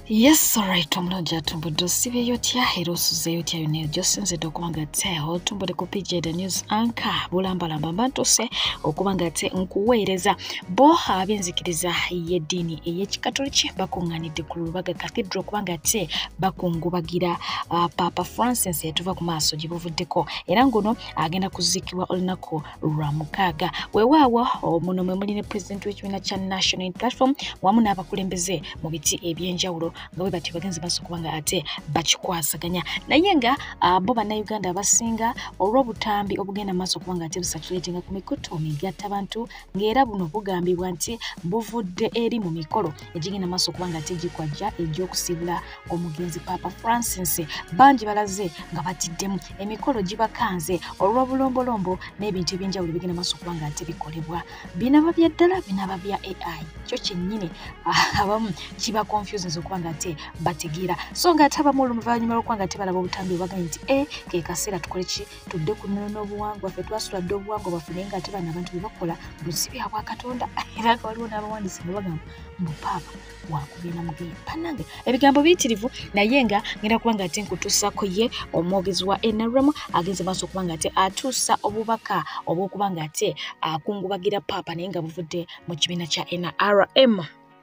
Yes, alright, omulungi atumbudde osibeeyo otya era osuzeeyo otya yonna eyo gyosinzidde okuba nga te otumbudde ku pj the news anka bulambalamba mba ntuuse okuba nga te nkuweereza bo ab'enzikiriza y'eddiini ey'ekikatoliki bakuŋŋanidde ku lubaga cathedral okuba nga te bakungubagira uh, papa francis etuva ku maaso gye buvuddeko era ngono agenda kuziikibwa olunaku lwa mukaaga wewaawo muno mwe muli ne pulezidenti w'ekibiina kya national in platform wamu n'abakulembeze mu biti ebyenjawulo nga bwe batyo bagenzi baso kuba nga ate bakikwasaganya naye nga bo bannayuganda abasinga olw'obutambi obugenda mu maaso kuba nga ate busatulatinga ku mikutu migatta bantu ng'era buno bugambibwa nti buvudde eri mu mikolo egigenda maaso kuba nga ate gikwajja egy'okusiibula omugenzi papa francis bangi balaze nga batiddemu emikolo gibakanze olw'obulombolombo n'ebintu ebyenjawulo bigenda maaso okuba nga nti bikolebwa binaba bya ddala binaba bya ai kyo kyennyini ah, abamu kiba confusions okuba nga te bategeera so nga ate abamu oluvanyuma lwokuba nga tebalaba obutambi obaganye nti e eh, kekaseera tukole ki tudde ku nnono n'obuwangwa fe twasula dde obuwangwa bwaffe naye nga ate bana abantu bebakola busibyabwa katonda era nga waliwo n'abawandiisi nga bagamba mbupaapa wakugenda mugeye banange ebigambo biyitirivu naye nga ngenda kuba nga ate nkutuusako ye omwogezi wa nrm agenze maaso okuba nga ate atuusa obubaka obwokuba nga ate akungubagira paapa naye nga buvudde mu kibiina kya nrm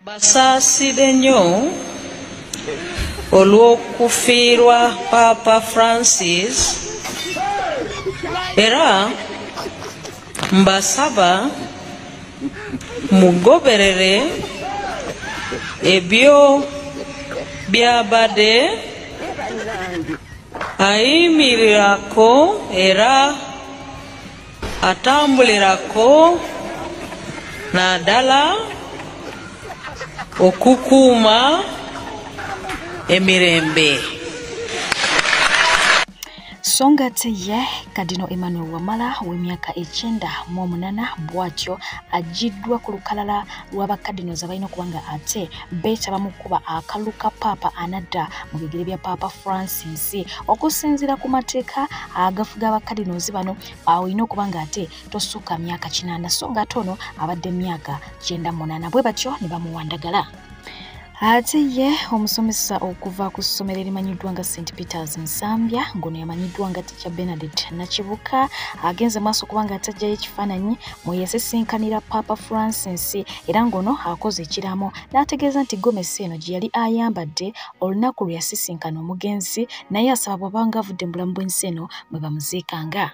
basaaside nnyo olw'okufiirwa paapa francis era mbasaba mugoberere ebyo byabadde ayimirirako era atambulirako naddala okukuuma emirembe so ng'ate ye kadino emmanuel wamala w'emyaka ekyenda mu omunana bw'atyo agiddwa ku lukalala lwa bakadino ze balina okuba nga ate beetaba mu kukuba akalulu ka paapa anadda mu bigere bya paapa francis okusinziira ku mateeka agafuga abakadinozi bano olina okuba nga ate tosukka myaka kinaana so ng'ate ono abadde myaka kyenda munaana bwe batyo ne bamuwandagala ate ye omusomesa okuva ku ssomero erimanyiddwa nga st peters nsambya ngono yamanyiddwa nga ticha benadet nakibuka agenze maaso kubanga atajjayo ekifaananyi mweyasesinkanira papa francis era ngono akoze ekiraamo n'ategeeza nti gomesi eno gye yali ayambadde olunaku lwe yasisinkana omugenzi naye asaba bwabanga avudde mu bulamu bw'ensi eno mwe bamuziikanga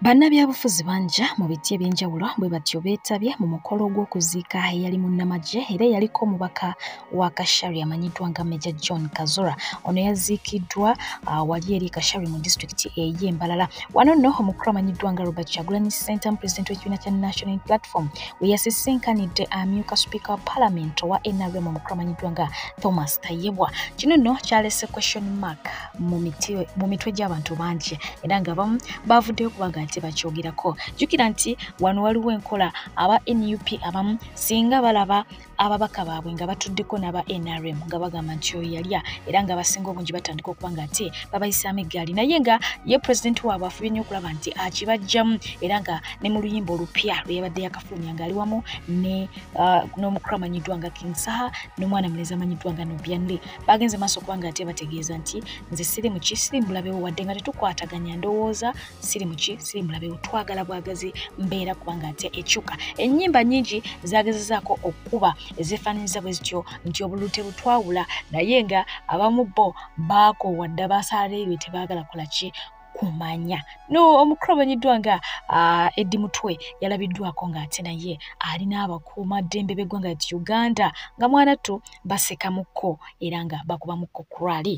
Bannabyabufuzi banja mu biti eby'enjawulo bwe batyo beetabye mu mukolo gw'okuziika eyali munnamagye era eyaliko omubaka wa Kashari amanyiddwa nga Meja John Kazura. Ono yaziikiddwa uh, wali eri Kashari mu disitulikiti eye Mbalala. Wano nno omukulu amanyiddwa nga Robert Kyagulanyi Ssentamu pulezidenti w'ekibiina kya National Platform we yasisinkanidde amyuka sipiika wa palamenti owa NRM omukulu amanyiddwa nga Thomas Tayebwa. Kino nno kyalese question mark. mu mitwe gy'abantu bangi era nga bamu baavuddeyo kubanga nti bakyogerako jjukira nti wano waliwo enkola aba nup abamu singa balaba ababaka baabwe nga batuddeko n'aba nrm nga bagamba nti oyo yalya era nga abasinga obungi batandika okuba nga ate babayisaamu eggaali naye nga ye pulezidenti waabwe afubye nnyo okulaba nti akibajjamu era nga ne mu luyimba olupya lwe yabadde yakafulumya ng'ali wamu uh, n'omukulu amanyiddwa nga king saha n'omwana mulezi amanyiddwa nga nobianle baagenze maaso okuba nga ate bategeeza nti nze siri muki siri mulabewo wadde nga tetukwataganya ndowooza siri muki siri mulabewo twagala bwagazi mbeera kubanga ate ekyuka ennyimba nyingi zaagezezaako okukuba ezefaananyiza bwe zityo nti obululu tebutwawula naye nga abamu bo baakoowa dda baasalareebye tebaagala kola ki kumanya no omukulu amanyiddwa nga uh, eddi mutwe yalabiddwako ng'ate naye ali n'abakuuma ddembe b'eggwanga ti uganda nga mwanattu basekamukko era nga bakubamukko kurali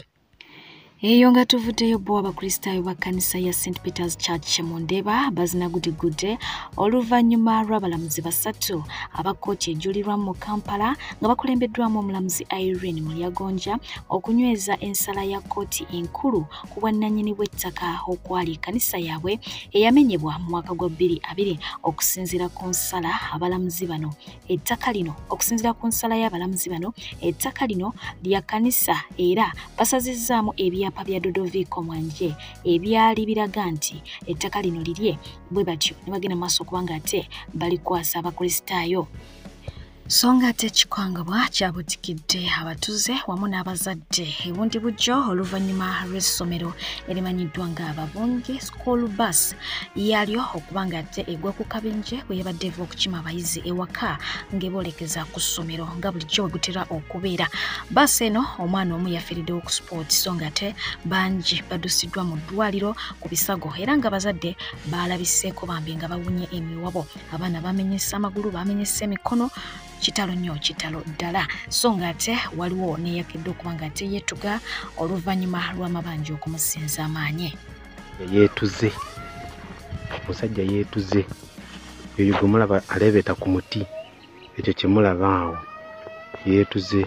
eyo nga tuvuddeyo bo abakristaayo ba kkanisa ya st peters church mu ndeeba bazinagudigudde oluvannyuma lw'abalamuzi basatu aba kkooti ejulirwamu mu kampala nga bakulembeddwamu omulamuzi irene mulyagonja okunyweza ensala ya kkooti enkulu ku bwannanyini bw'ettaka okwali kanisa yaabwe eyamenyebwa mu mwaka gwa bbiri abiri okusinziira ku nsala abalamuzi bano ettaka lino okusinziira ku nsala y'abalamuzi bano ettaka lino lya kanisa era basazizzaamu ebyapa bya dodoviiko mwanje ebyali biraga nti ettaka lino lirye bwe batyo ne bagenda maaso okuba nga ate balikwasa abakristaayo so nga ate ekikangabwa kyabutikidde abatuze wamu n'abazadde ebundi bujjo oluvannyuma lw'essomero erimanyiddwa nga babungi school bus yalyo okuba nga ate egwa ku kabinje bwe yabadde eva okukima abayizi ewaka ng'eboolekeza ku ssomero nga bulijjo bwe gutera okubeera baasi eno omwana omu yafiiriddewo ku sport so nga ate bangi badusiddwa mu ddwaliro ku bisago era nga abazadde baalabiseeko bambi nga bawunye emiwabo abaana bamenyesa amagulu bamenyesa emikono kitalo nnyo kitalo ddala so nga ate waliwo neyakedde okuba nga ate yetuga oluvannyuma lw'amabanja okumusinza amaanyi yetuze omusajja yetuze yoyo gwe mulaba aleebeeta ku muti ekyo kyemulaba awo yetuze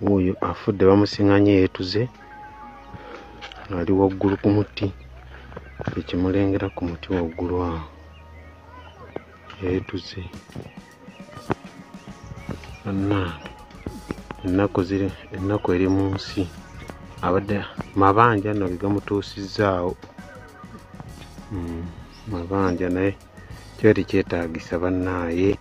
wuuyo afudde bamusinganye yeetuze ali waggulu ku muti ekimulengera ku muti waggulu awo yeetuze anna ennaku ziri ennaku eri mu nsi abadde mabanja nno ge gamutuusizzaawo hmm, mabanja naye kiba tekyetagisa bannaaye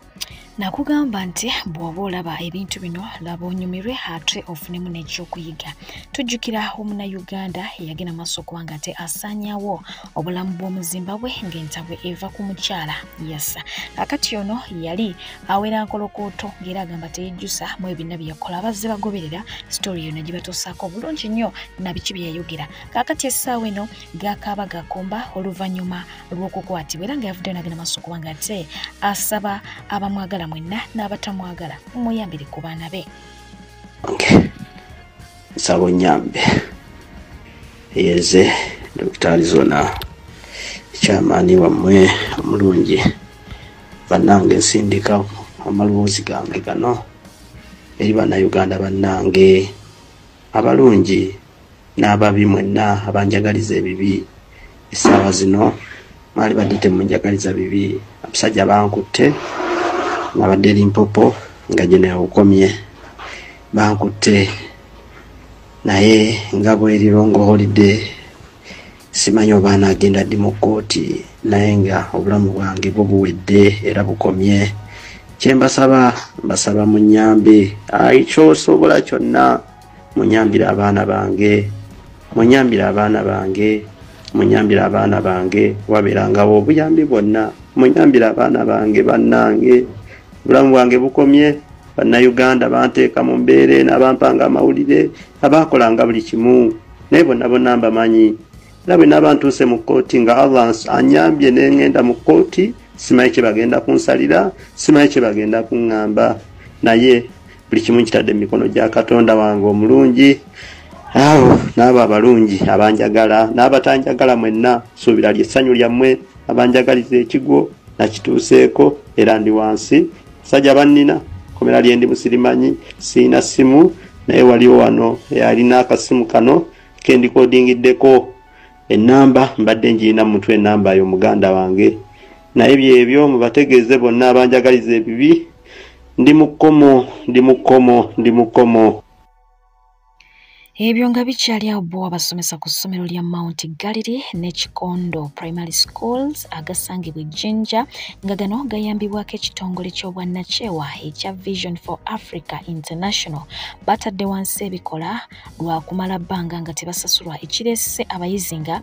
nakugamba nti bw'oba olaba ebintu bino laba onyumirwe ate ofunemu n'ekyokuyiga tujjukira omuna uganda eyagenda maaso kubanga ate asaanyawo obulamu bw'omuzimbabwe ng'entabwe eva ku mukyala yasa kakati ono yali awera nkolokooto ng'era agamba teyejjusa mu ebina bye yakola abazze bagoberera sitoori yona gye batuusaako obulungi nnyo nabiki bye yayogera kakati essaawa eno gakaaba gakomba oluvannyuma olw'okukwatibwa era nga yavuddeyo nagenda maaso okuba nga ate asaba abamwagala mwenna n'abatamwagala mumuyambire ku baana be nsaba onyambe eyeze dokita arizona ekyamaani wammwe omulungi bannange nsindika amalwoozi gange gano eri bannayuganda bannange abalungi n'ababi mwenna abanjagaliza ebibi essaawa zino mwali badde temunjagaliza bibi abasajja bankutte nabadde limpopo nga gye newukomye bankutte naye nga bwerirongo holide simanyi oba anaagenda ddi mu kkooti naye nga obulamu bwange bwo buwedde era bukomye kyembasaba mbasaba mu nyambe ayi kyosobola kyonna munyambire abaana bange munyambire abaana bange munyambire abaana bange wabeerangawo obuyambi bwonna munyambire abaana bange bannange obulamu bwange bukomye bannayuganda banteeka mu mbeera eno abampanga amawulire abaakolanga buli kimu naye bonna bonna mbamanyi era bwe naaba ntuuse mu kkooti nga allah anyambye ne ŋŋenda mu kkooti simanyi kye bagenda kunsalira simanyi kye bagenda kuŋŋamba naye buli kimu nkitadde mu mikono gya katonda wange omulungi awo n'abo abalungi abanjagala n'abatanjagala mwenna suubira lyessanyu lyammwe abanjagaliza ekigwo nakituuseeko era ndi wansi sajja bannina komera lyendi musirimanyi siina ssimu naye waliwo wano eyalina akasimu kano kendikodingiddeko enamba mbadde njirina mumutwe enamba yo muganda wange naye byebyo mubategeeze bonna abanjagaliza ebibi ndi mu kkomo ndi mu kkomo ndi mu kkomo ebyo nga bikyali awo bo abasomesa ku ssomero lya mount gallery ne kikondo primary schools agasangibwa ejjinja nga gano gayambibwako ekitongole ky'obwannakyewa ekya vision for africa international batadde wansi ebikola lwa kumala bbanga nga tebasasulwa ekireese abayizi nga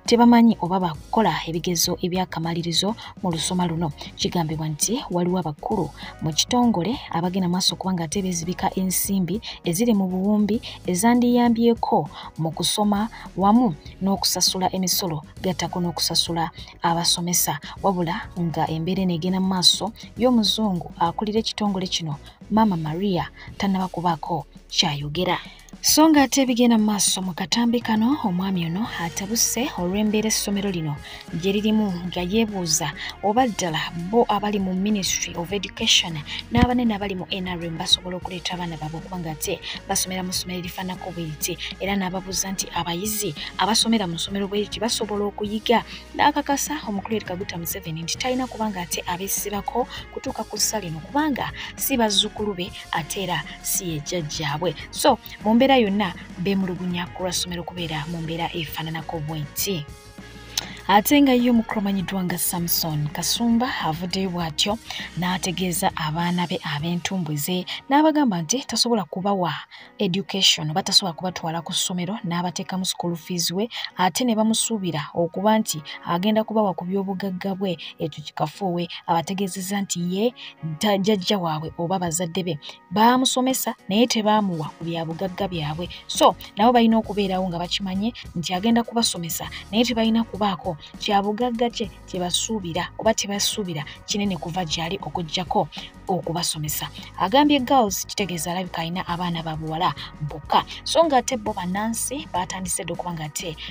tebamanyi oba bakukola ebigezo ebyakamalirizo mu lusoma luno kigambibwa nti waliwo abakulu mu kitongole abagenda maaso okuba nga ate bezibika ensimbi eziri mu buwumbi ezandiyambyeko mu kusoma wamu n'okusasula emisolo gattako n'okusasula abasomesa wabula nga embeera eno egenda mu maaso y'omuzungu akulira ekitongole kino maama maria tannaba kubaako kyayogera so nga ate ebigenda mu maaso mu katambi kano omwami ono atabuse olw'embeera essomero lino gye lirimu nga yeebuuza oba ddala bo abali mu ministry of education n'abanene abali mu nrm basobola okuleeta abaana baabwe okuba nga ate basomera mu ssomero erifaanako bwe riti era n'ababuuza nti abayizi abasomera mu ssomero bwe riti basobola okuyiga n'akakasa omukulu eri kaguta museveni nti talina kuba nga ate abeesibako kutuuka ku ssa lino kubanga si bazzukulu be ate era si yejjajjaabwe so mu mbeera yonna beemulugunya ku lwa ssomero kubeera mu mbeera efaananako bwenti ate nga ye omukulu omanyiddwa nga samson kasumba avuddeyo bw'atyo n'ategeeza abaana be ab'entumbwe ze n'abagamba nti tasobola kubawa education oba tasobola kubatwala ku ssomero n'abateekamu school fees we ate ne bamusuubira okuba nti agenda kubawa ku by'obugagga bwe ekyo kikafuuwe abategeezezza nti ye jajja waabwe oba bazadde be baamusomesa naye tebaamuwa ku bya bugagga byabwe so nabo balina okubeerawo nga bakimanye nti agenda kubasomesa naye tebalina kubaako kya bugagga kye kye basuubira oba tebasuubira kinene kuva gyali okuggyako okubasomesa agambye girls kitegeeza alabika alina abaana babuwala bokka so nga ate bo bannansi baatandise dde okuba nga ate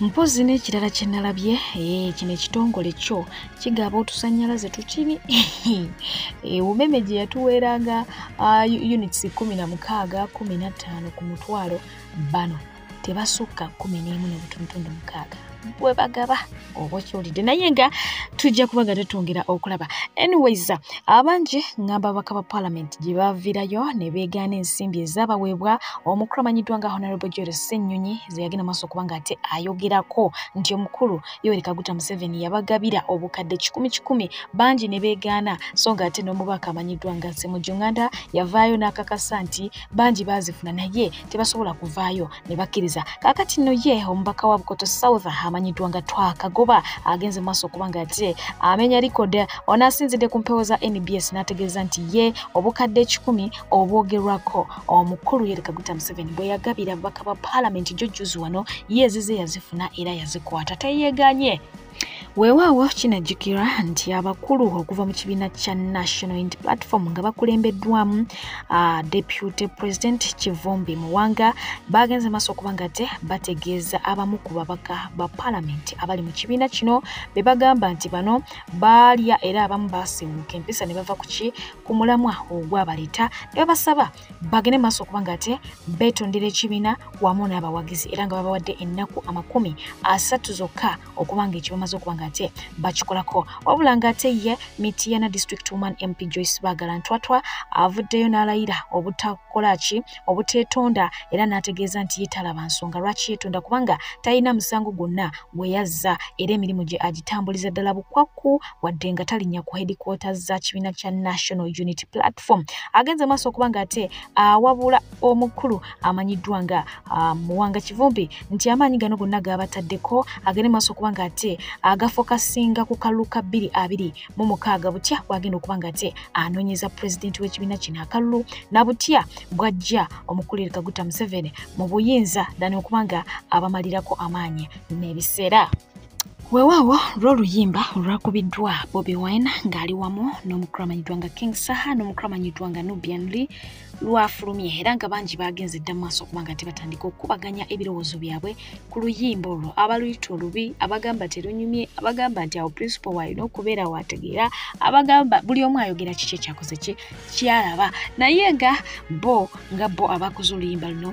mpozi n'ekirala kye nalabye eh, kino ekitongole kyo kigaba otusannyalaze tukiri eh, umeme gye yatuweeranga ah, units kumi na mukaaga kumi na ttaano ku mutwalo bano tebasukka kumi n'emu n'obutuntundu mukaaga bwe bagaba oba okiwulidde naye nga tujja kuba nga tetwongera okulaba anyways abangi ngamba ababaka ba palamenti gye baviirayo ne beegaana ensimbi ezaabaweebwa omukulu amanyiddwa nga honorable joel ssennyonyi ze yagenda maaso okuba ng'ate ayogerako nti omukulu Yoweri Kaguta Museveni yabagabira obukadde kikumi kikumi bangi ne beegaana so ng'ate n'omubaka amanyiddwa nga Ssemujju Nganda yavaayo n'akakasa nti bangi baazifuna naye tebasobola kuvaayo ne bakkiriza kaakati nno ye omubaka wa Bukoto South amanyiddwa nga Twakagoba agenze maaso okuba ng'ate amenya likode onaasinzidde ku mpewo za NBS n'ategeeza nti ye obukadde ekikumi obwogerwako omukulu Yoweri Kaguta Museveni bwe yagabira ababaka ba paalamenti gyo jjuzi wano ye ezize yazifuna era yazikwata teyeeganye weewaawo kinajjukirwa nti abakulu okuva mu kibiina kya national int platform nga bakulembeddwamu uh, deputy president kivumbi muwanga baagenze maaso okuba nga te bategeeza abamu ku babaka ba palamenti abali mu kibiina kino be bagamba nti bano baalya era abamu baasiwuuka empisa ne bava ku ki ku mulamwa ogwabaleta ne babasaba bagende maaso okuba nga ate beetondera ekibiina wamu n'abawagizi era nga babawadde ennaku amakumi asatu zokka okuba nga ekibamaze okuba nga ate bakikolako wabula nga ate ye mitiyana district woman mp joyce bagala ntwatwa avuddeyo n'alayira obutakola ki obuteetonda era n'ategeeza nti yetalaba nsonga lwaki yeetonda kubanga talina musango gwonna gwe yazza era emirimu gye agitambuliza ddala bukwakku wadde nga talinya ku headquarters za kibiina kya national unity platform agenze maaso okuba nga ate awabula omukulu amanyiddwa nga muwanga kivumbi nti amaanyi gano gonna gaabataddeko agende maaso okuba nga ate agafokasinga ku kalulu ka bbiri abiri mu mukaaga butya bwagenda okuba nga ate anoonyeza pulezidenti w'ekibiina kino akalulu na butya bwajja omukulire kaguta museveni mu buyinza dani okuba nga abamalirako amaanyi n'ebiseera weewaawo lw'oluyimba olwakubiddwa bobi wine ng'ali wamu n'omukulu amanyiddwa nga king saha n'omukulu amanyiddwa nga nubian lee lwafulumye era nga bangi baagenze dda mu maaso okuba nga tebatandika okukubaganya ebirowoozo byabwe ku luyimba olwo abaluyita olubi abagamba terunyumye abagamba nti awo principal waalina okubeera waategeera abagamba buli omu ayogera kiki ekyakoze kye kyalaba naye nga bo nga bo abakoze oluyimba luno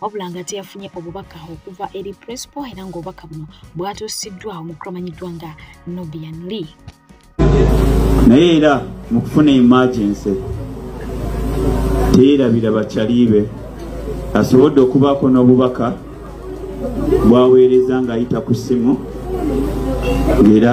wabula nga teyafunye obubaka okuva eri prespo era ng'obubaka buno bwatuusiddwa omukulu amanyiddwa nga nobian lee naye era mu kufuna emergency teerabira bakyaliibe asobodde okubaako n'obubaka bwaweereza ng'ayita ku ssimu era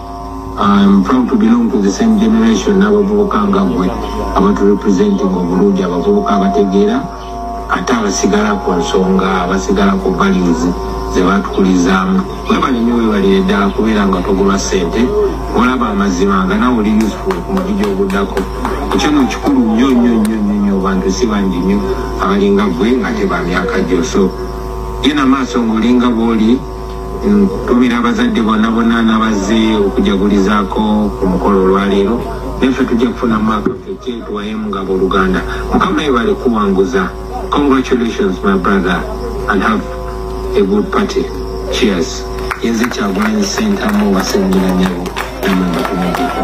I'm proud to belong to the same generation n'abavubuka nga gwe abatu representing obulungi abavubuka abategeera ate abasigala ku nsonga abasigala ku values ze batukulizaamu webale nyo webalire ddala kubeera nga togulwa ssente olaba amazima nga nawe oli useful ku mudi gyoguddako ekyo no kikulu nnyo nnyo nnyo nnyo nnyo bantu si bangi nnyo abalinga gwe nga tebamyaka gyo so genda maaso ng'olinga bwoli Ntumira abazadde bonna bonna nabazze okujagulizaako ku mukolo olwaleero naffe tujja kufuna mwaka ffe kyetuwaye mugabo oluganda mukama yebale kuwanguza congratulations my brother and have a good party cheers yenze kyagulanyi sentamu wasengira nyabo namwe mbatumideko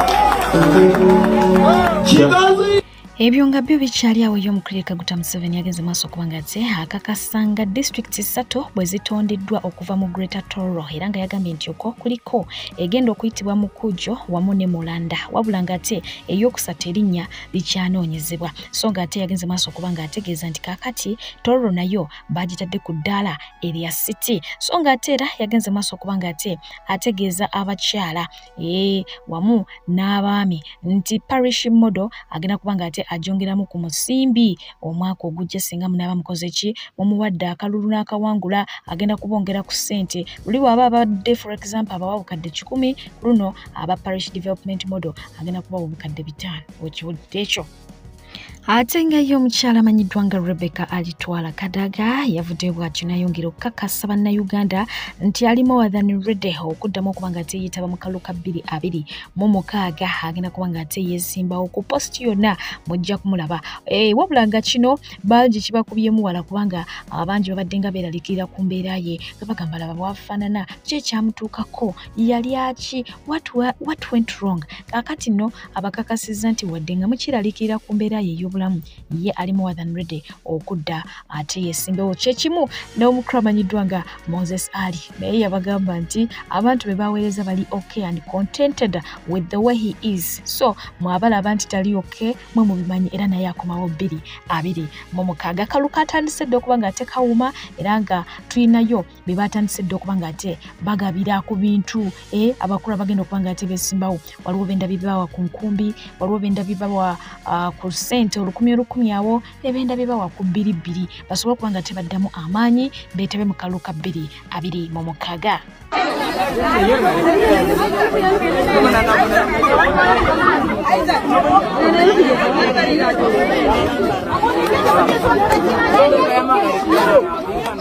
kigazi ebyo nga byo bikyali awo yo omukulirika guta museveni yagenze maaso okuba nga te akakasa nga disitulikiti ssatu bwe zitondeddwa okuva mu greater toro era nga yagambye nti okwo kuliko egenda okuyitibwa mu kujo wamu ne mulanda wabula nga ate eyokusatu erinnya likyanoonyezebwa so nga ate yagenze maaso okuba nga ategeeza nti kakati toro nayo bagitadde ku ddaala erya city so nga ate era yagenze maaso okuba nga ate ategeeza abakyala ee wamu n'abaami nti parish model agenda kuba nga ate ajongeramu ku musimbi omwaka ogujja singa munaaba mukoze ki mumuwadde akalulu n'akawangula agenda kubongera ku ssente luli waaba abadde for example abawa bukadde kikumi luno aba parish development model agenda kubawa obukadde bitaano okiwudde ekyo ate nga ye omukyala amanyiddwa nga rebecca alitwala kadaga yavudde bwatyo nayongera okukakasa bannayuganda nti ali mowathani rede okuddamu okuba nga teyetaba mu kalu ka bbiri abiri mu mukaaga agenda kuba nga ate yesimbawo ku post yonna mujja kumulaba eh, wabula nga kino bangi kibakubyemu wala kubanga abangi babadde nga beeralikirira ku mbeera ye nga bagamba laba bwafaanana ki ekyamutuukako yali aki what, what went wrong kakati no abakakasizza nti wadde nga mukiralikirira ku mbeera ye ey'obulamu ye ali more than ready okudda ate yesimbewo kyekimu n'omukulu amanyiddwa nga moses ali naye yabagamba nti abantu be baweereza bali okay and contented with the way he is so mwabalaba nti tali okay mwe mubimanyi era naye akomawo bbiri abiri mu mukaaga akalu katandise dda okuba nga tekawuma era nga tulinayo be baatandise dda okuba nga ate bagabira ku bintu e abakulu abagenda okuba nga ate besimbawo waliwo benda bibawa ku nkumbi waliwo benda bibawa uh, ku sente olukumi olukumi awo ne benda bibawa ku bbiri bbiri basobole okuba nga tebaddamu amaanyi beetebe mu kalulu ka bbiri abiri mu mukaga Thank you.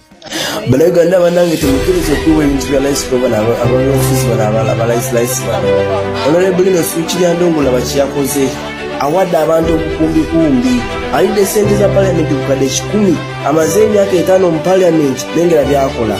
banauganda banange temukiriza okuwa ebintu bya laisi kubana abaofiisi bana abalaisilaisi bano onorebulino sikiryandongula bakiyakoze awadde abantu obukumbikumbi alidde sente za paliamenti kukadde kikumi amaze emyaka etaano mu paliamenti nengera byakola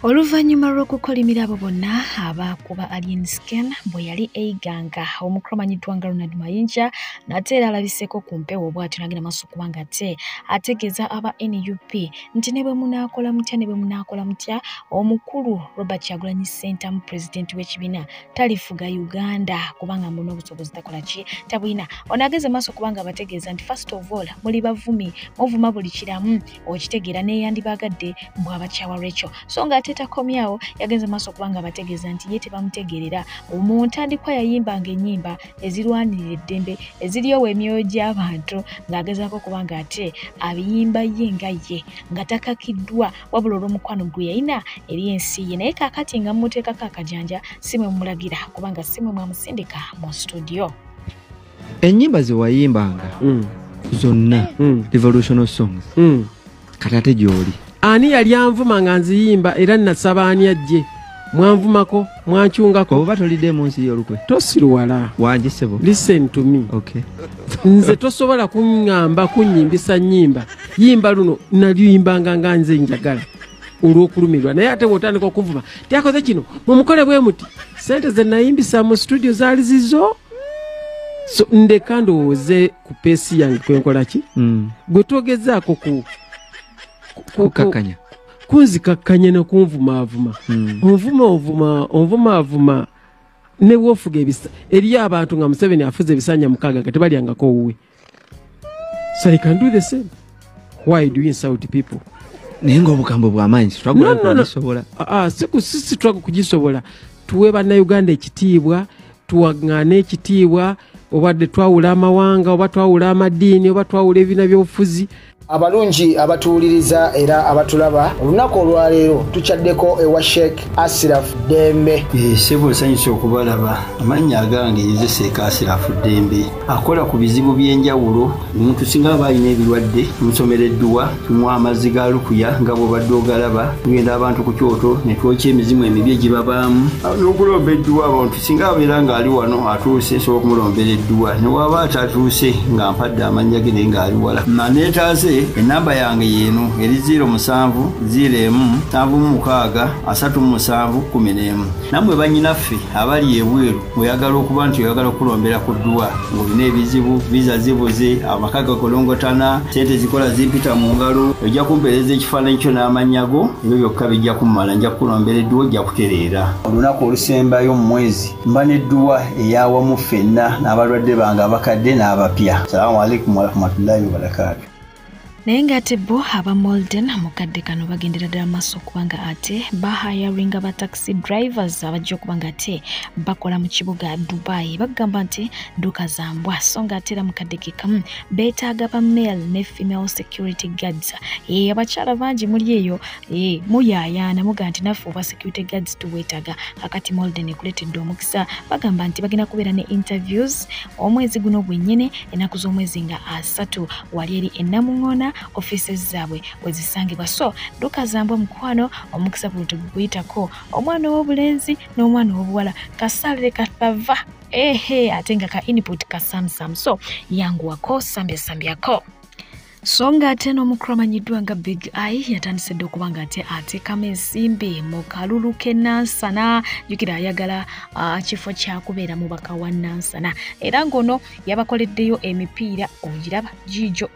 oluvannyuma lw'okukolimira abo bonna abaakuba alien scan bwe yali eiganga omukulu amanyiddwa nga ronald mayinja nate era alabiseeko ku mpewo bw'atyo nagenda maaso kuba nga te ategeeza aba nup nti ne bwe munaakola mutya ne bwe munaakola mutya omukulu robert kyagulanyi sentamu pulezidenti w'ekibiina talifuga uganda kubanga muna obusobozi takola ki tabulina ono ageze maaso kubanga abategeeza nti first of all muli bavumi muvuma buli kiramu okitegeera neyandibaagadde mbu abakyawa rachel so nga ate takomyawo yagenze maaso okubanga abategeeza nti ye tebamutegeerera mu ntandikwa yayimbanga ennyimba ezirwanirira eddembe eziryowa emyoyo gy'abantu ng'agezaako okuba nga ate abiyimba ye nga ye nga takakiddwa wabula olw'omukwano gwe yalina eri ensi ye naye kaakati nga mumuteekako akajanja si mwe mumulagira kubanga si mwe mwamusindika mu studio enyimba zewayimbanga mm. zonna mm. revolutional songs mm. kati ate gyoli ani yali anvuma nga nziyimba era nasaba ani ajje mwanvumako mwancungako oba tolidde munsi yolukwe tosiruwala wangi sebo listen to me okay. nze tosobola kuŋŋamba kunyimbisa nyimba yimba luno naluyimbanga nga nze njagala olwokulumirwa naye ate wotandika okunvuma tyakoze kino mumukole bwe muti sente zenayimbisa mu studio zaali zizo so ndeka ndowooze ku peesi yange kwenkola ki mm. gwe twogezaako ku kukakanya kunzikakkanya nokunvumaavuma mm. onvuma onvuma onvumaavuma newofuga ebisa eriyo abantu nga museveni afuza ebisanja mukaaga nga tebalyangako owuwe so i can do the same why do you insult people naye nga obugambo bwamaanyi sitwagulakugisobola ah, ah, sitwaga kugisobola tuwe bannauganda ekitiibwa tuwaŋŋaane ekitiibwa obadde twawula amawanga oba twawula amadiini oba twawula ebibiina byobufuzi abalungi abatuwuliriza era abatulaba olunaku olwaleero tukyaddeko ewa sheik asiraf dembe eh, sebo nsanyusa okubalaba amannya agange yezeseeka asiraf dembe akola ku bizibu by'enjawulo omuntu singa aba alina ebirwadde musomera edduwa tumuwa amazzi ga lukuya nga bwobadde ogalaba tugenda abantu ku kyoto netwokya emizimu emibi egibabaamu n'okulomba edduwa abantu singa abeera ng'ali wano atuuse nsobola okumulombera edduwa newaaba atatuuse nga mpadde amannya ge naye ng'ali wala maneetaase enamba yange yeeno eri 0 musanvu 0 emu nsanvu mu mukaaga asatu mu musanvu kumi n'emu nammwe bannyinaffe abali ebweru oyagala okuba nti oyagala okulombera ku dduwa ng'olina ebizibu viza zibuze amaka gakolongotana sente zikola zimpita mu ngalo ojja kumpeereza ekifaananyi kyo n'amannya go ebyo byokka bijja kummala nja kukulombera edduwa ojja kutereera olunaku olusembayo mu mwezi mba nedduwa eyawamu ffenna n'abalwadde bange abakadde n'abapya salamu aleikum warahmatullahi wabarakatu naye ng'ate bo aba molden mu kadde kano bagendera ddala maaso okuba nga ate bahayaringa ba taxi drivers abajja okuba nga ate bakola mu kibuga dubai bagamba nti dduka za mbwa so ng'ate era mu kadde ke kamu beetaaga ba male ne female security guards eyo abakyala bangi muli eyo Ee, eh, muyaayaana muga nti naffe obwa security guards tuweetaga kakati molden ekuleetedde omukisa bagamba nti bagenda kubeera ne interviews omwezi guno gwennyini ennaku z'omwezi nga asatu wali eri ennamuŋŋoona offices zaabwe we zisangibwa so dukazambwa mukwano omukisa guno teguguyitako omwana ow'obulenzi n'omwana ow'obuwala kasaalire katava ehe ate nga ka input kasamsam so yanguwako sambyasambyako so nga ate n'omukulu amanyiddwa nga big i yatandise dde okuba nga ate ateekamu ensimbi mu kalulu ke nansana jukira ayagala uh, kifo kyakubeera mubaka wa nansana era ng'ono yabakoleddeyo emipiira ogiraba giijo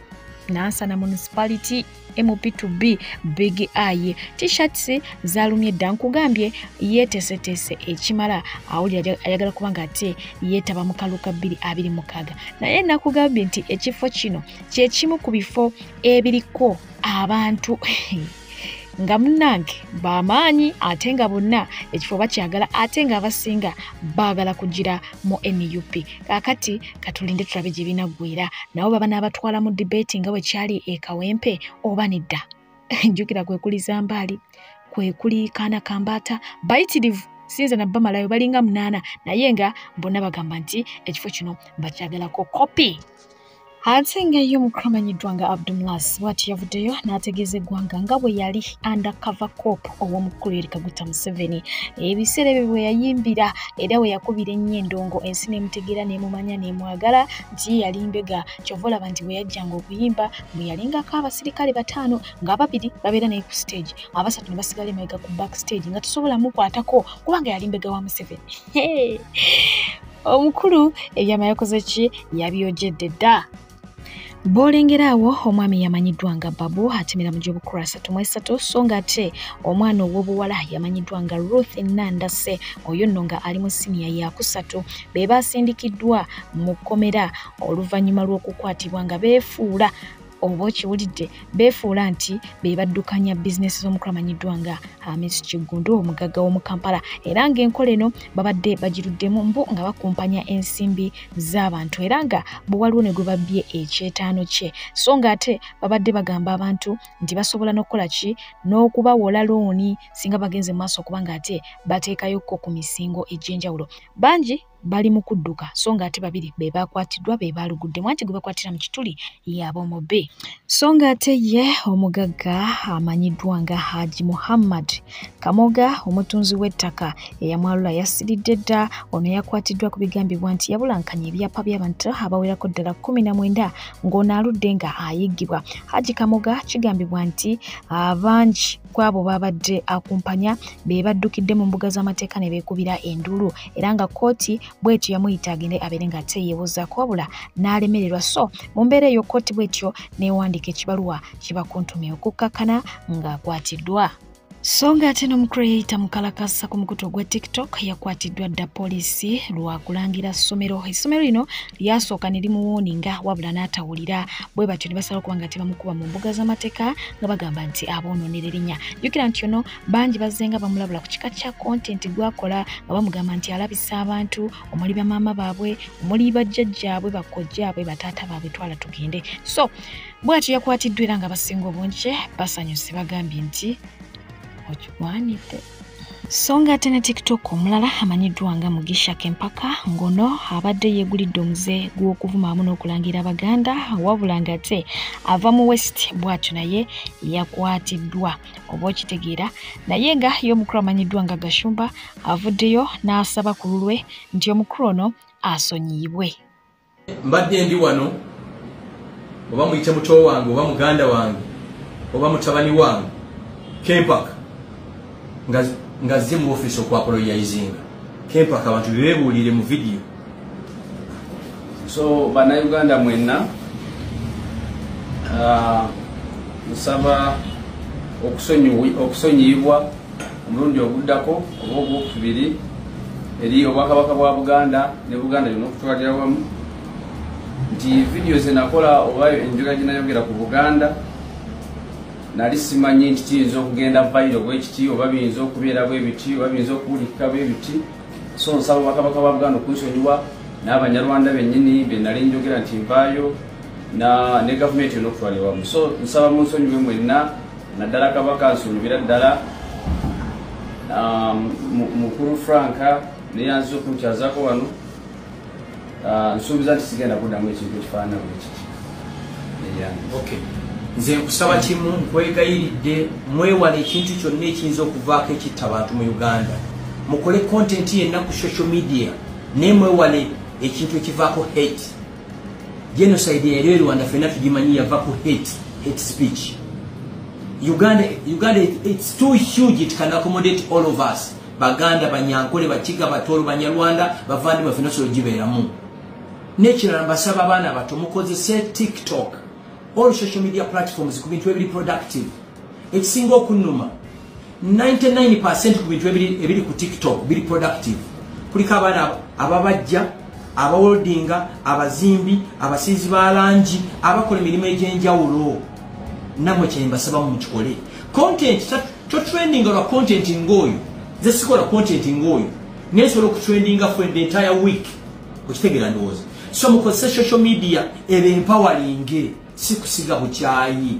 nansana municipality mp2b big i tshirts zalumye dda nkugambye yetesetese ekimala awulira ayagala kuba nga ate yeetaba mu kaluka 226 naye nakugambye nti ekifo kino kyekimu ku bifo ebiriko abantu nga munange bamaanyi ate nga bonna ekifo bakyagala ate nga abasinga baagala kugira mu nup kakati katulinde tulabe gye binaggwera nabo baba n'abatwala mu debeti nga bwe kyali ekawempe oba nedda njukira kwe kuli zambaali kwe kuli kaana kambaata bayitirivu sinza na bamalayo balinga munaana naye nga bonna bagamba nti ekifo kino bakyagalako kopi ate ngaeyo mukamanyiddwa nga abdumlas bwati yavuddeyo n'ategeeza eggwanga nga bwe yali undercover cop ow'omukulu eri kaguta museveni ebiseera ebyo bwe yayimbira era we yakubira ennyo endongo ensi n'emutegeera n'emumanya n'emwagala nti ye yali mbega kyova olaba nti bwe yajjanga okuyimba bwe yalengako abasirikale bataano ng'ababiri babeera naye ku stage abasatu ne basigala emabega ku back stage nga tusobola mukwatako kubanga yali mbega wa museveni omukulu ebyama yakoze ki yabyogedde dda bwolengera awo omwami yamanyiddwa nga babu atemera mu gy'obukulu asatu mu esatu so nga ate omwana ow'obuwala yamanyiddwa nga ruth nandase oyo nno nga ali mu siniya yakusatu be baasindikiddwa mu kkomera oluvannyuma lw'okukwatibwa nga beefuula oba okiwulidde beefuula nti be baddukanya bizinesi z'omukulu amanyiddwa nga hamis kiggundu omugagga w'omu kampala era ng'enkola eno babadde bagiruddemu mbu nga bakumpanya ensimbi z'abantu era nga bwe waliwo ne gwe babbye ekyetaano kye so ng'ate babadde bagamba abantu nti basobola n'okukola ki n'okubawola looni singa bagenze mu maaso okuba ng'ate bateekayokko ku misingo egy'enjawulo bangi bali mu kudduka so ng'ate babiri be baakwatiddwa be baaluguddemu anti gwe bakwatira mu kituli yabomobe so ng'ate ye omugagga amanyiddwa nga haji muhammad kamoga omutunzi w'ettaka eyamwalula yasiridde dda ono yakwatiddwa ku bigambibwa nti yabulankanya ebyapa by'abantu abawerako ddala kumi na mwenda ng'ono aludde nga ayiggibwa haji kamoga kigambibwa nti abangi ku abo baabadde akumpanya be baddukidde mu mbuga z'amateeka ne beekubira enduulu era nga kkooti bw'etyo yamuyita agende abeere nga ate yeebuuzaako wabula n'alemererwa so mu mbeera eyo kkooti bw'etyo n'ewandiika ekibaluwa kibakuntumye okukkakkana ng'akwatiddwa so ng'ate n'omucreata mukalakasa ku mukutu ogwa tiktok yakwatiddwa dda poliisi lwa kulangira ssomero essomero lino lyasooka ne limuwooninga wabula n'atawulira bwe batyo ne basalawo okuba nga tebamukuba mu mbuga z'amateeka nga bagamba nti aboonoonera erinnya jjukira nti ono bangi bazze nga bamulabula ku kika kya kontenti gwakola nga bamugamba nti alabisa abantu omuli bamaama baabwe omuli bajjajjaabwe bakkojjaabwe bataata baabwe twala tugende so bwatyo yakwatiddwa era nga basinga obungi basanyuse bagambye nti okigwanidde so nga ate ne tiktok omulala amanyiddwa nga mugisha kempaka ngono abadde yegulidde omuze gw'okuvuma amu n'okulangira abaganda wabula nga ate ava mu west bwatyo naye yakwatiddwa oba okitegeera naye nga ye omukulu amanyiddwa nga gashumba avuddeyo n'asaba ku lulwe nti omukulu ono asonyiyibwe mbadde ndi wano oba muyite muto wange oba muganda wange oba mutabani wange kempaka nga zze mu ofiisi okwakola yayizinga kempaka abantu bebebuulire mu vidiyo so banauganda mwenna uh, nsaba okusonyiyibwa omulundi oguddako oba ogwokubiri eri obwakabaka bwa buganda ne buganda yona okutwalira wamu nti vidiyo zenakola oba enjula gyenayogera ku buganda nali simanyi nti kiyinza okugenda vairo bwekiti oba biyinza okubeera bwebiti oba biyinza okuwulikika bwebiti so nsaba obwakabaka bwa buganda okunsonyiwa n'abanyarwanda bennyini benali njogera nti nvaayo ne gavumenti yona okutwalira wamu so nsaba munsonyiwe mwenna naddala kabaka nsuubira ddala um, mukulu frank neyanziza okunkyazako wano uh, nsuubiza nti sigenda kuddamu ekintu ekifaanana bwekiti nze nkusaba kimu nkwegayiridde mwewala ekintu kyonna ekiyinza okuvaako ekitta bantu mu uganda mukole kontenti yenna ku social media naye mwewale ekintu ekivaako hate genocide yali erwanda fena tugimanyi yava ku hate hate speech uganda uganda it's too huge it can accommodate all of us baganda banyankole bakiga batolo banyarwanda bavandi bafena so gibeeramu nekirala mbasaba abaana bato mukozese tiktok all social media platforms ku bintu ebiri productive ekisinga okunuma 99 percent ku bintu ebiri ku tiktok biri productive kuliko abaana ababajja abawoldinga abazimbi abasiizi ba langi abakola emirimu egyenjawulo namwe kyembasaba mukikole content totrendinga lwa content ngaoyo ze sikola content ngaoyo naye nsobola okutrendinga for the entire week okitegeera ndowooza so mukozese social media ebe empawalinge si kusiga bukyayi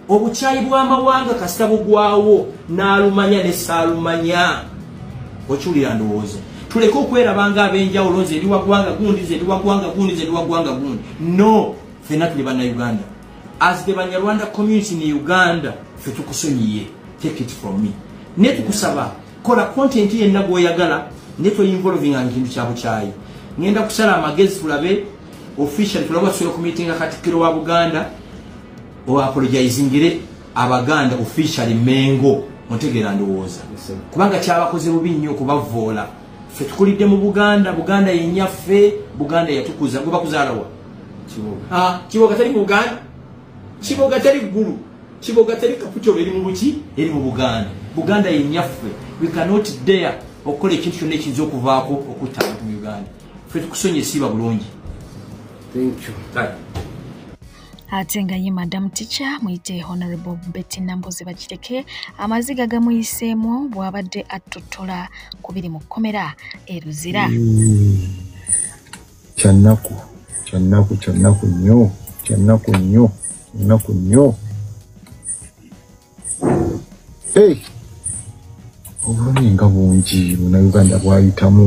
obukyayi bw'amawanga kasita bugwawo n'alumanya ne saalumanya okiwulira ndowooza tuleke okwerabanga ab'enjawulo nze ndi wagwanga gundi nze ndi wagwanga gundi nze ndi wagwanga gundi no fenna tuli bannayuganda as the banyarwanda community ne uganda fe tukusonyiye take it from me ne tukusaba kola content yenna gwoyagala ne toyinvolvinga ekintu kya bukyayi ngenda kusala amagezi tulabe officially tulabe watusobola okumitinga katikkiro wa buganda o apologizingire abaganda officially mengo ontegeera ndowooza kubanga kyabakoze bubi nnyo okubavoola fe tukulidde mu buganda buganda yenyaffe buganda yatukuza gwe bakuzaalawa kiboga ah, teri mu buganda kiboga teri ggulu kiboga teri kaputolo eri mu buki eri mu buganda buganda yenyaffe we cannot dare okukola ekintu kyonna ekiyinza okuvaako okutta abantu mu uganda fe tukusonye esiiba bulungi ate nga ye madam ticha muyite honorable betty nambozi bakireke amaziga gamuyiseemu bw'abadde attuttola ku biri mu kkomera e luzira kyannaku kyannaku kyannaku nnyo kyannaku nnyo kyannaku nnyo obulumi nga bungi buna uganda bwayitamu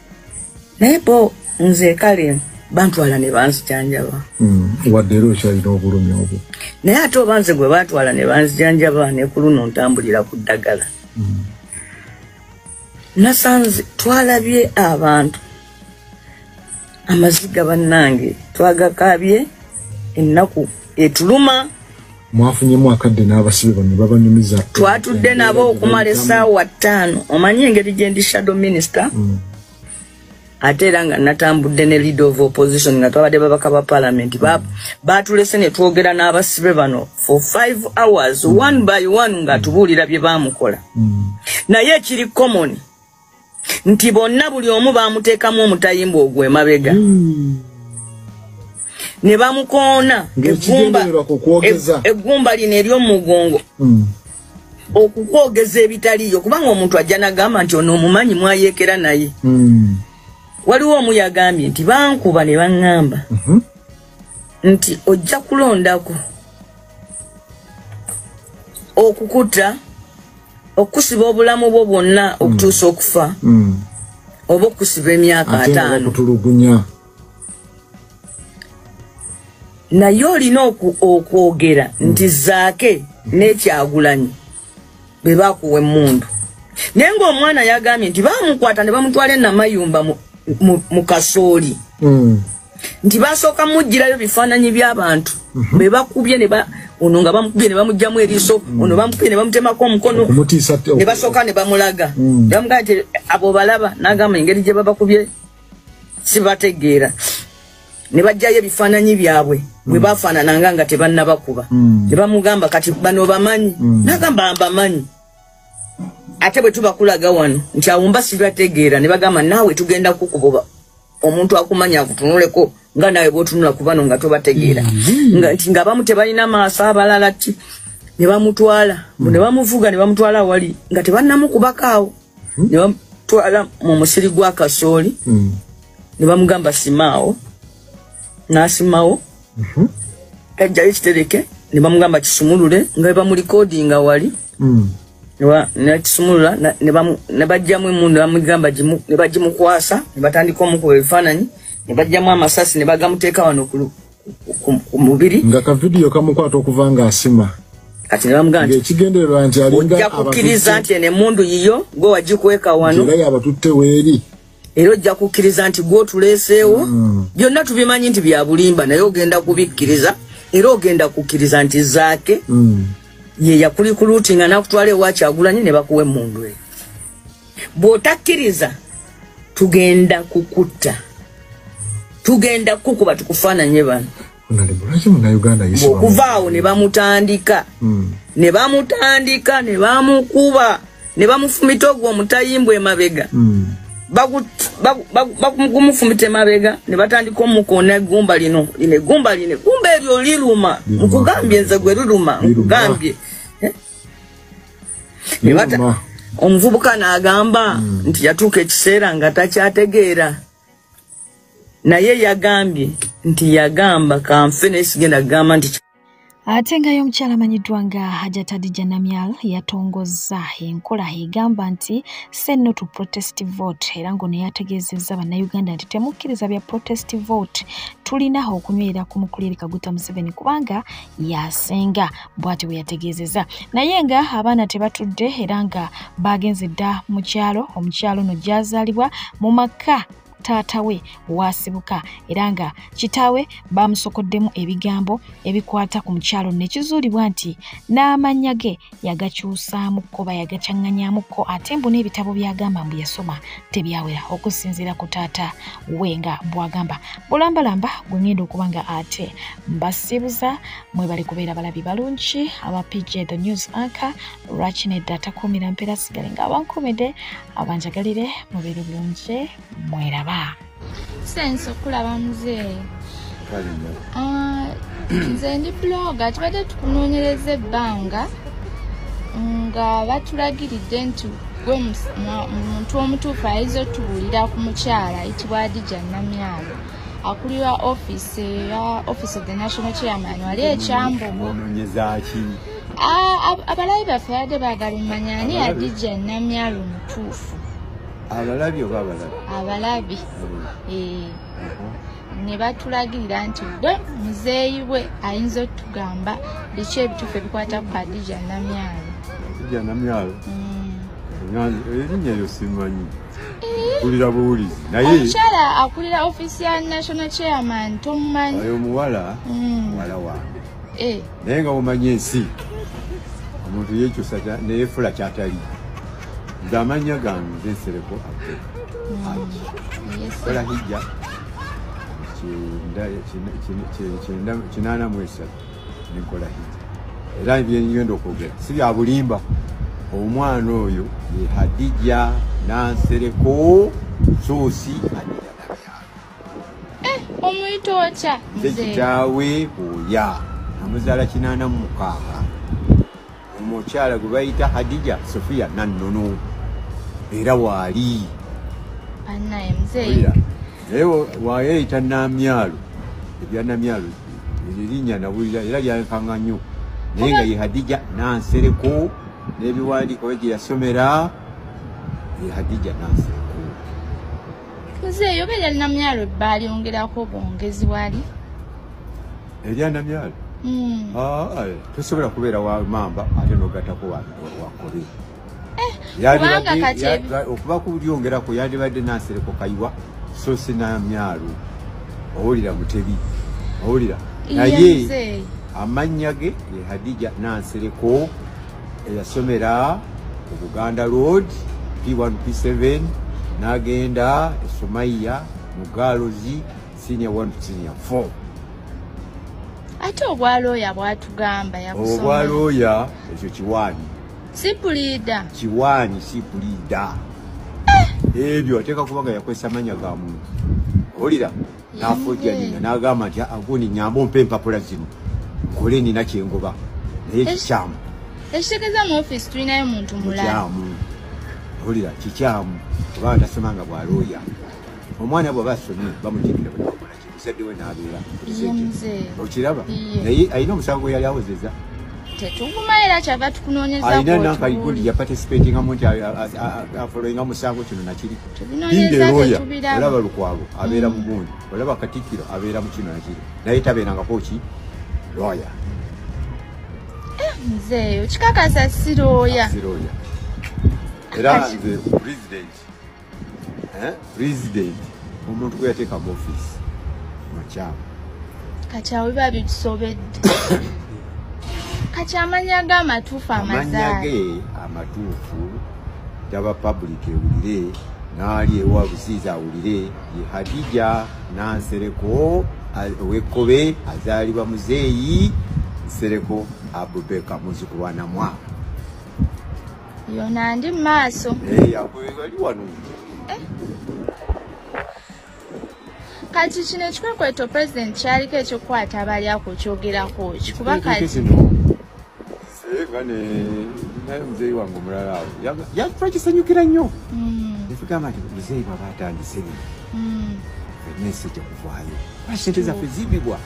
naye bo nze kale bantwala ne banzijanjaba hmm, wadde era okyalina obulumi obwo naye ate oba nze gwe batwala ne banzijanjaba ne ku luno ntambulira ku ddagala hmm. nasanze twalabye abantu amaziga bannange twagakaabye ennaku etuluma mwafunyemu akadde n'abasibe bano babanyumiza twatudde nabo okumala esaawa ttaano omanyi engeri gyendi shadow minister mm. ate era nga natambudde ne leader of opposition nga twabadde babaka ba palamenti batulese ne twogera n'abasibe bano for five hours mm. one by one nga tubuulira bye baamukola mm. naye ekiri common nti bonna buli omu baamuteekamu omutayimbwa ogwo emabega hmm. ne bamukoona eggumba e- lino ery'omugongo hmm. okukwogeza ebitaliyo kubanga omuntu ajja nagamba nti ono omumanyi mwayeekera naye hmm. waliwo omu yagambye nti bankuba ne baŋŋamba mhm. nti ojja kulondako okukuta okusiba obulamu bwo bwonna okutuusa okufa mm. oba okusiba emyaka ataano naye olina okwogera nti zaake nekyagulanyi bwe bakuwa emmundu naye ng'omwana yagambye nti bamukwata ne bamutwala enamayumba mu kasooli hmm. nti basooka mujjirayo bifaananyi by'abantu mhm. bwe bakubye ono nga bamukubye ne bamugjamu eriiso hmm. ono bamukubye ne bamutemako omukono ne basooka ne bamulaga hmm. bamugamba nti abo balaba n'agamba engeri gye babakubye sibategeera ne bajjayo ebifaananyi byabwe bwe mm. baafaanananga nga tebannabakuba mm. ne bamugamba kati bano bamanyi mm. nagamba mbamanyi ate bwe tubakulaga wano nti awumba sibategeera ne bagamba naawe tugenda kukukuba omuntu akumanya akutunuleko nga naawe bwotunula ku bano nga tobategeera nti nga abamu tebalina maaso abalala ti ne bamutwala ne bamuvuga ne bamutwala awali nga tebannamukubakaawo ne bamutwala mu musiri gwa kasooli ne bamugamba simaawo n'asimawo mhm. ajjayo kitereke ne bamugamba kisumulule nga bebamurikodinga wali mm. nakisumulula ne bajjamu emundu bamugamba ne bagimukwasa ne batandika omukuba ebifaananyi ne bajjamu amasasi ne bagamuteeka wano ku mubiri nga kavidiyo kamukwata okuva nga asima kati nebamugamba nti ekigendererwa nti alinga ojja kukkiriza nti eno emundu yiyo gwe wagikweka wano era yabatutte weeri era ojja kukkiriza nti gwotuleeseewo mm. byonna tubimanyi nti byabulimba naye ogenda kubikkiriza era ogenda kukkiriza nti zaake mm. ye yakulikuluuti nga nakutwala ewakyagulanye ne bakuwa emundu eyo bw'otakkiriza tugenda kukutta tugenda kukuba tukufaananye bano okuva awo ne bamutandika hmm. ne bamutandika ne bamukuba ne bamufumita ogwo omutayimbwa emabega hmm. bakumufumita emabega ne batandika omukoona egumba lino lino egumba lino egumba eryo liruma nkugambye nze gwe liruma nkugambye eh? omuvubuka n'agamba hmm. nti yatuuka ekiseera nga takyategeera naye yagambye nti yagamba kanfe naye sigenda kugamba nti ate ngayo omukyala amanyiddwa nga hajatadija namyal yatongozza enkola egamba nti senno to protest vote era ngono yategeezezza bannayuganda nti temukkiriza bya protest vote tulina okunywera ku mukulirika guta museveni kubanga yasinga bwati bwe yategeezezza naye nga abaana tebatudde era nga baagenze dda mu kyalo omukyalo no gyazaalibwa mu maka taata we waasibuka era nga kitaawe baamusokoddemu ebigambo ebikwata ku mukyalo nekizuulibwa nti n'amannya ge yagakyusaamukko bayagacanganyaamukko ate mbu n'ebitabo byagamba mbu yasoma tebyawera okusinziira ku taata we nga bwagamba bulambalamba gwe ngenda okuba nga ate mbasibuza mwebali kubeera balabi balungi aba pj the news anka lwaki nedda atakuumira mpeera sigale nga abankuumidde abanjagalire mubiri bulungi mweraba sense okulaba muzeeyi ah, nze ndi bloga tubadde tukunoonyereza ebbanga nga batulagiridde nti gwe muntu omutuufu ayinza otubuulira ku mukyala ayitibwa adija namyalo akulira office ya office of the national chairman wali ekyambogo abalabi baffe badde baagala omanya ani adija namyalo omutuufu abalabi oba abalabi abalabi hmm. eh. uh-huh. ne batulagirira nti gwe muzeeyi we ayinza otugamba biki ebituufu ebikwata ku adija namyalo adija namyalo hmm. erinnya lyo simanyi kulira buwulizi naye omukyala akulira office ya national chairman tomumanyi oyo omuwala hmm. muwala wange eh. naye nga womanya ensi omuntu yekyusa neyefula kyatali nze amanya gange nze nsereko abdu haji kola hijja kinana mwesatu nenkola hijja era byenyenda okwogera si byabulimba omwana oyo ye hadija nansereko sosi eh, omuyita otya nze kitaawe oya amuzaala kinaana mu mukaaga omukyala gwe bayita hadija sofiya nannono era waali naye wayeyita namyalo ebyanamyalo erinya nawulira era lyankanga nnyo naye nga ye hadija nansereko n'ebiwandiiko bye gye yasomera ye hadija nansereko nze eyo beera namyalo ebbaali ongerako bwongezi wali erya namyalo hmm. ah, eh, tosobola kubeera wa mamba ate nogatako wakobe eh, okuba kulyongerako yandibadde nasereko kayiwa so si namyalo owulira mutebi owulira naye amannya ge ye hadija nansereko eyasomera ku buganda road p1 p7 n'agenda esomaiya mu gaalozi senior 1 senior 4 ate obwalooya bwatugamba obwalooya ekyo kiwaani sipuliida kiwaani sipuliida eh! ebyo ateeka kuba nga yakozesa manya ga muntu owulira nafujja nina nagamba nti agundi nyamba ompa empapula zino nkole nina kyengoba naye kikyamu ekitegeeza mu office tulinayo muntu mulakyamu olira kikyamu oba ndasemanga bwalooya omwana bwaba asomye bamutegera muzadde we nabeera okiraba naye alina omusango yali awozeza alina nankayigundi yaparticipatingamu nti afoloinga musango kino nakiri Binde roya olaba lukwabo abeera mm. mugundi olaba katikiro abeera mukino nakiri naye tabeerangako ki roya eh, nze okikakasa si roya era nze president eh, president omuntu gwe yateeka mu office mukyamu kati awo biba bitusobedde kati amanya ge amatuufu amazaamanya ge amatuufu taba public ewulire naali ewa busiizi awulire ye hadija nansereko owekkobe azaalibwa muzeeyi nsereko abubeka muzukulu wa namwa yona ndi mu maaso ali wano eh? kati kino ekikwekweto pulezidenti kyaliko ekyokukwata abalya ku kyogerako ki kuba kati naye muzeeyi wange omulala awo yakufa kisanyukira nnyo nekugamba nti muzeeyi bwaba atandise bino fenna ensi ejja kuvaayo kuba sente zaffe zibbibwa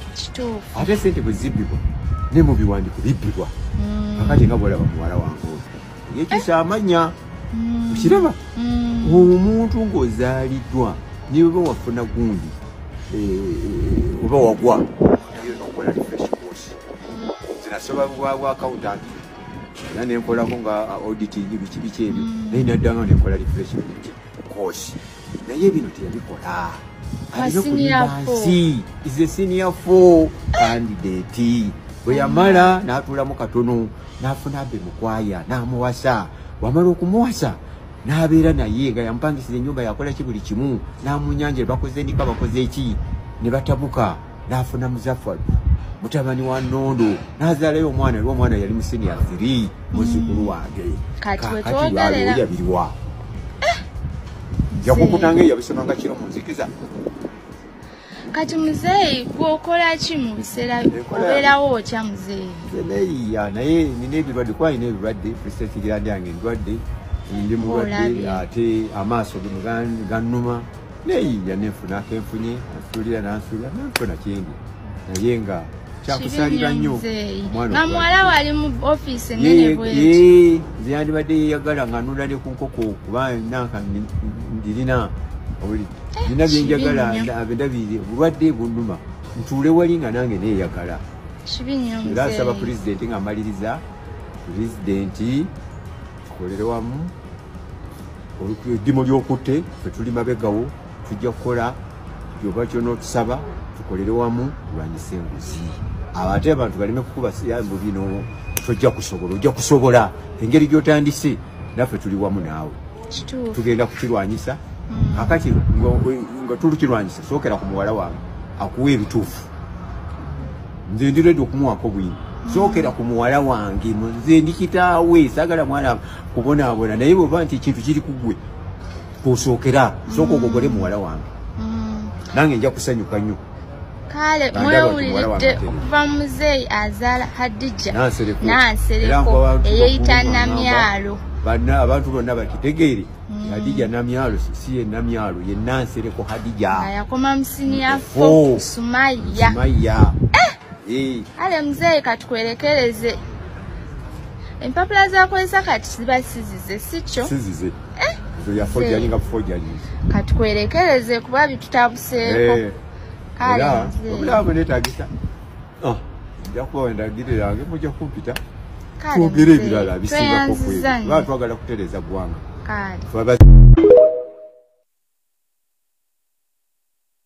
ate sente bwe zibbibwa ne mu biwandiiko bibbibwa kakati nga bwolaba muwala wange oyo yekisa amanya okiraba omuntu ng'ozaaliddwa niweba wafuna gundi oba wagwa zinasoba bwa accountant era nenkolako nga uh, auditing biki biki ebyo mm. naye naddanga nenkola refreshment course naye bino teyabikola alinakulibansi is a senior four candidate bwe yamala mm. n'atuulamu katono n'afuna be mukwaya n'amuwasa wamala okumuwasa n'abeera naye nga yamupangisiza ennyumba yakolaki buli kimu n'amunyanjira bakoze ndika bakoze eki ne batabuka nafuna muzafaru mutabani wa nondo nazalayo omwana era omwana yali musinia three muzukulu wange kakatiwaliweyabiriwa eh! yakukutanga eyabisomanga kiro munzikiza kati muzeeyi gwokola ki mu biseera obeerawo otya muzeeyi neyiya naye nina ebirwadde kuba nina ebirwadde presetigirandi yange endwadde ndi mulwadde ate amaaso ganuma neyinya nenfuna kenfunye nsulira nansulira nenfuna kyendi naye nga kyakusalira nnyo omuwala wali mu ofisi nze yandibadde yeyagala nga nula ne ku nkoko kuba nanka ndirina oli nina eh, byenjagala abendabiri obulwadde bunuma ntuule wali nga nange neyagala era asaba pulezidenti nga amaliriza pulezidenti tukolere wamu eddimu ly'okutte fe tuli mabegawo tujja kukola kyoba kyona otusaba tukolere wamu lwanyisa enguzi abo ate abantu baleme kukuba siyambu bino tojja kusobola ojja kusobola engeri gy'otandise naffe tuli wamu naawe tugenda kukirwanyisa mm. akati nga tulukirwanyisa sookera ku muwala wange akuwa ebituufu nze ndi redi okumuwako bwini sokera ku muwala wange nze ndi kitaawe sagala mwana kubonaabona naye bweba nti ekintu kiri kugwe kusookera sooka ogogole muwala wange mm. nange nja kusanyuka nnyo kale mwewuliridde okuva muzeeyi azaala hadija nansereko eyeyita namyalo abantu bonna bakitegeere mm. hadija namyalo si ye namyalo ye nansereko hadija ayakoma msini ya fo oh. sumaya sumaya eh! eh. ale mzee katukwelekeleze empapula zakozesa kati ziba sizize sikyo sizize eh? zo ya fo jali nga fo jali katukwelekeleze kuba bitutabuseeko eh. kale mzee obulamu netagisa ah, nja kubawa endagiriro yange mujja kumpita twogere ebirala bisingako kwebaa twagala kutereeza ggwanga